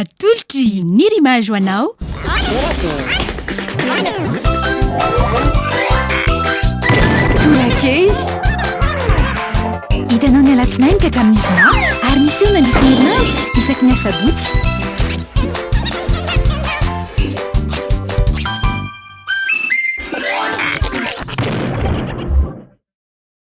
Atolotry ny Rimage ho anao. Torakely. Hitanao ny alatsinainy ka hatramin'ny zoma ary miseho mandritra ny herinandro isaky ny asabotsy.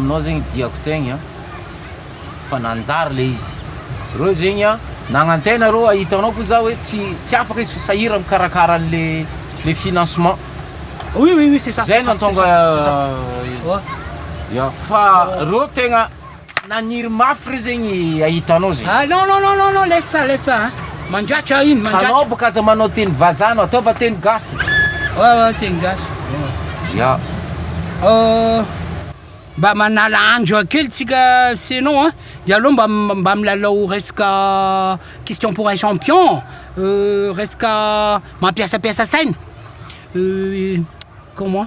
Aminao zegny diako tegny a, fa nanjary le izy reo zegny a, nagnantena reo a, hitanao ko za hoe tsy tsy afaka izy fa sahira mikarakara anle le financement, zay nantonga ya fa reo tegna naniry mafy re zegny ahita anao zegny. Mandratra iny mandratra. Anao boka aza manao teny vazaha anao, ataova teny gasy. Ao ao teny gasy. Ya. Mba manala andro kely tsika c'est non a, de aleo mba mba milalao resaka question pour un champion, resaka mampiasampiasa saina, comment,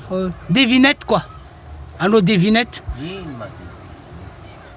devinette quoi, hanao devinette. Ino ma zay devinette.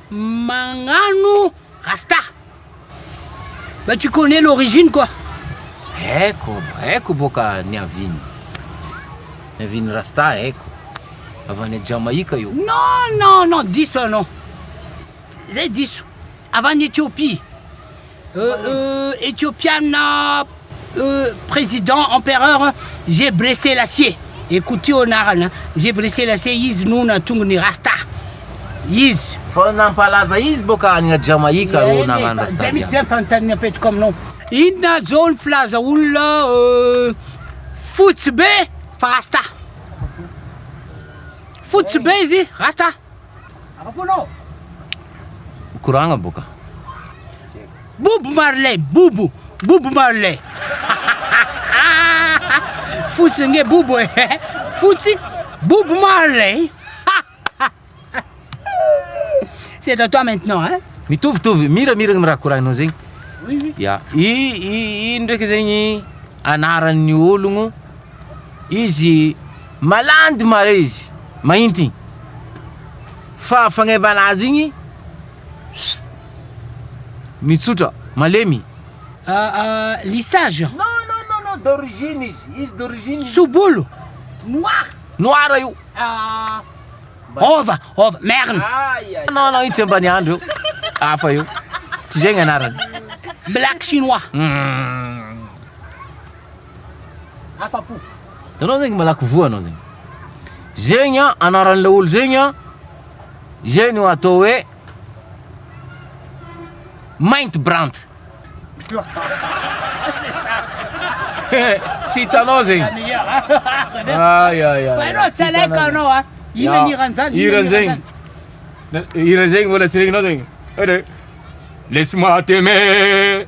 Magnano rasta. Mba tu connais l'origine quoi. Haiko, haiko boka niaviany. Niaviany rasta haiko. Avy any Jamaïque io. Non non non diso anao. Zay diso. Avy any Ethiopie. Ethiopiana président empereur Gebre Selassie Ekouti anarana Gebre Selassie izy no nahatonga ny rasta izy. Fa nampalaza izy boka any Jamaïque arô nagnano rasta jiaby. Zay mitsy zany fanontaniana apetrako aminao. Inona zao ny filaza olona fotsy be fa rasta? Fotsy be izy rasta? Mikoragna boka. Bob Marley, Bobo, Bob Marley. Fotsy nge Bobo eh. Fotsy Bob Marley. C'est à toi maintenant hein. Mitovitovy, miramiragna raha koragnao zegny. Oui oui. Ya, i i i ndraiky zegny anaran'ny ologno izy Malady mare izy mahint igny fa fagnevana azy igny pst mitsotra malemy. Aa lissage an. Non non non non d'origine izy izy d'origine izy. Tsobolo noir. Noir io. Aa ova ova merina. Non non io tsy ambaniandro io hafa io tsy zegny anarany. Black chinois. Umm. Afa-po. Hitanao zegny malaky voa anao zegny. Zegny an, anaran'ilay olo zegny an, izay no atao hoe Mainty Brant. Tsy hitanao zegny. Ay, ay, ay. Bainao tsy alaiko anao a. Ina ny hiran zany? Hiran zegny. Hiran zegny mbola tsy regninao zegny. Laisse-moi t'aimer.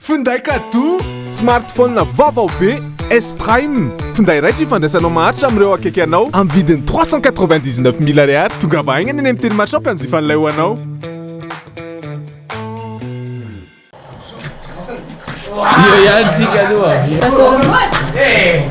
Finday kadoa, smartphone vaovao be S Prime, finday raitra ifandraisanao maharitra amin'ireo akaiky anao amin'ny vidiny trois cent quatre-vingt-dix-neuf mille ariary. Tongava haingana eny amin'ny Tele Marchand mpanjifa an'ilay ho anao. Io ihany tsika aloha.